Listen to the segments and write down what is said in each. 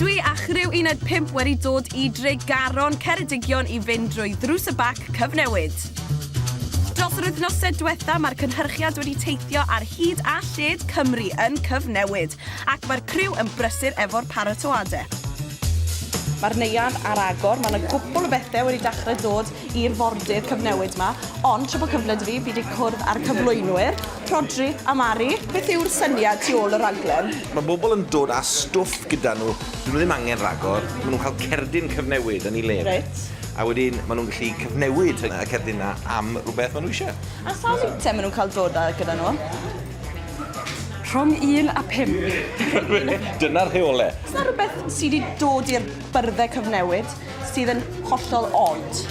Dwi a chriw Uned 5 wedi dod i Dregaron, Ceredigion i fynd drwy Ddrws y Bac Cyfnewid. Dros yr wythnosau diwetha mae'r cynhyrchiad wedi teithio ar hyd a lled Cymru yn Cyfnewid ac mae'r criw yn brysur efo'r paratoade. Mae'r neuadd ar agor, mae 'na gwpwl o bethe wedi dachre dod i'r fordydd cyfnewid ma, ond tra bod cyfle 'da fi, fi 'di cwrdd â'r cyflwynwyr, Rhodri a Mari. Beth yw'r syniad tu ôl y rhaglen? Mae bobl yn dod â stwff gyda nhw, dydyn nhw ddim angen rhagor, maen nhw'n cael cerdyn cyfnewid yn ei le fe, a wedyn maen nhw'n gallu cyfnewid y cerdyn 'na am rhywbeth maen nhw isie. A sawl eitem maen nhw'n cael dod â gyda nhw? Rhwng un a pump. Dyna'r rheole. Oes 'na rhywbeth sy 'di dod i'r byrddau cyfnewid sydd yn hollol od.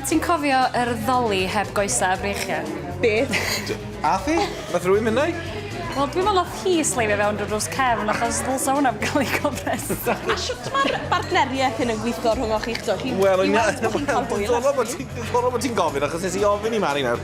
Ti'n cofio yr ddoli heb goesau a breichiau? Beth? Ath hi? Nath rhywun mynd na'i? Wel, dwi'n meddwl nath hi sleifio fewn drwy drws cefn achos ddylsa hwnna gael ei gofres. A shwt mae'r bartneriaeth hyn yn gweithio rhwng o'ch chi'ch dwy? Wel, yn ia- Dwi'n meddwl bod ti'n cael hwyl ati. Diddorol bod ti'n gofyn achos nes i ofyn i Mari nawr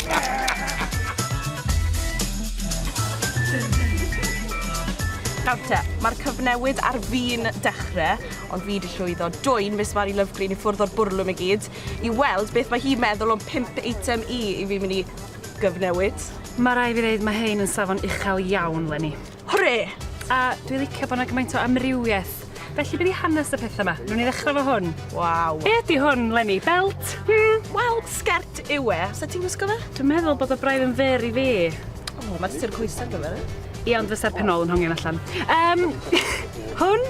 Nawr te, mae'r cyfnewid ar fin dechre, ond fi wedi llwyddo dwy'n Miss Mari Lovegreen i ffwrdd o'r bwrlwm i gyd, i weld beth mae hi'n meddwl o'n pimp eitem i i fi mynd i gyfnewid. Mae rai fi ddeud mae hein yn safon uchel iawn, Leni. Hwre! A dwi licio bod 'na gymaint o amrywiaeth. Felly beth i hanes y pethau yma? Nw'n i ddechrau fo hwn. Waw. Be ydi hwn, Lenny? Belt? Hmm. Wel, sgert yw e. Sa ti'n gwisgo fe? Dwi'n meddwl bod o braidd yn fer i fi. O, oh, mae ti'n coesau gyfer e. Ia, ond fysa'r penol yn hongian allan. Um, hwn?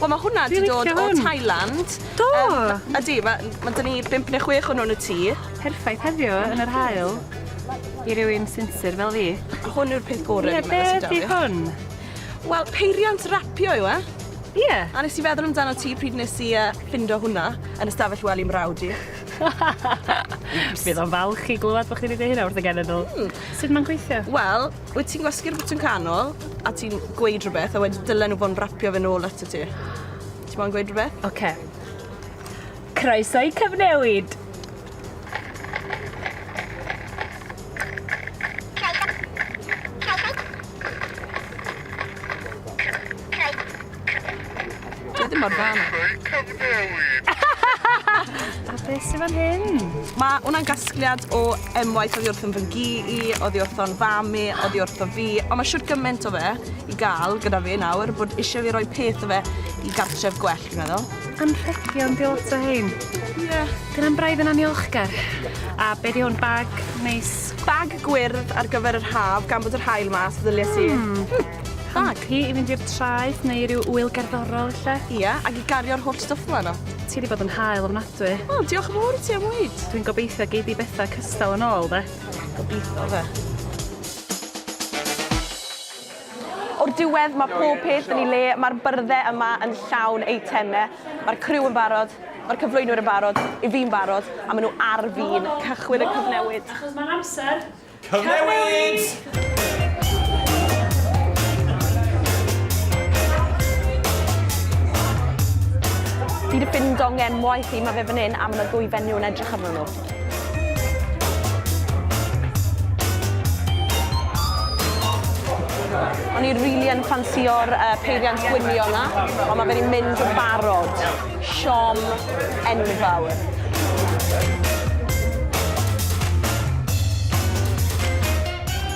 Wel, mae hwnna wedi dod o Thailand. Do! Um, ydy, mae ma, ma ni 5 neu 6 o'n nhw'n y tŷ. Perffaith heddiw yn yr hael. i rywun sinsir fel fi. Hwn yw'r peth gorau dwi'n meddwl sy'n 'da fi. Ie, beth yw hwn? Wel, peiriant rapio yw e. Ie. A nes i feddwl amdano ti pryd nes i yy ffindo hwnna yn y stafell wely 'mrawd i. Fydd o'n falch i glywed bo' chi 'di deud hynna wrth y genedl. Hmm. Sud ma'n gweithio? Wel, wyt ti'n gwasgu'r botwm canol a ti'n gweud rhywbeth a wedyn dylen nhw fod yn rapio fe nôl atat ti. Ti moyn gweud rhywbeth? Oce. Croeso i cyfnewid! Dwi mor dda. A beth sy'n fan hyn? Mae hwnna'n gasgliad o emwaith oddi wrthyn fy ngi i, oddi wrthyn fam i, oddi wrthyn fi, ond mae siwr gymaint o fe i gael gyda fi nawr bod eisiau fi roi peth o fe i gartref gwell, fi'n meddwl. Anrhegion, di lot o hein. Ie. Dyna'n braidd yn anniolchgar. A be di hwn, bag neis? Bag gwyrdd ar gyfer yr haf, gan bod yr haul mas, ddylais i. Hmm. Bag? Hi i fynd i'r traeth neu i ryw wyl gerddorol lle? Ia, ac i gario'r holl stwff fel yno. Ti di bod yn hael ofnadwy. Wel, diolch yn fawr i ti am weid. Dwi'n gobeithio gei di bethau cystal yn ôl, de? Gobeithio, fe. O'r diwedd mae pob peth yn ei le, mae'r byrddau yma yn llawn eitemau, mae'r criw yn barod, mae'r cyflwynwyr yn barod, i fi'n barod, a maen nhw ar fin cychwyn y cyfnewid! Achos mae'n amser cyfnewid! Fi 'di ffindo nghenwaith i, mae fe fan hyn a mae 'na ddwy fenyw yn edrych arnyn nhw. O'n i rili yn ffansio'r uh, peiriant gwynio yna, ond mae fe'n mynd yn barod. Siom enfawr.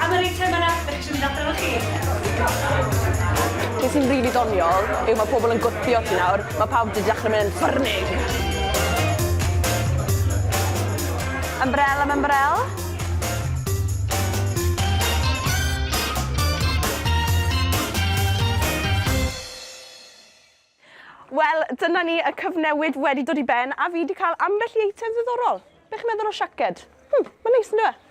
Am yr eitemau 'na, dach chi isio mynd adra efo chi? Be sy'n rili doniol yw ma' pobl yn gwthio ti nawr, ma' pawb 'di dechre myn' yn ffyrnig! Ymbrel am ymbrel. Wel, dyna ni, y cyfnewid wedi dod i ben a fi wedi cael ambell i eitem ddiddorol. Be chi'n meddwl o siaced? Hmm, mae'n neis ynddo fe?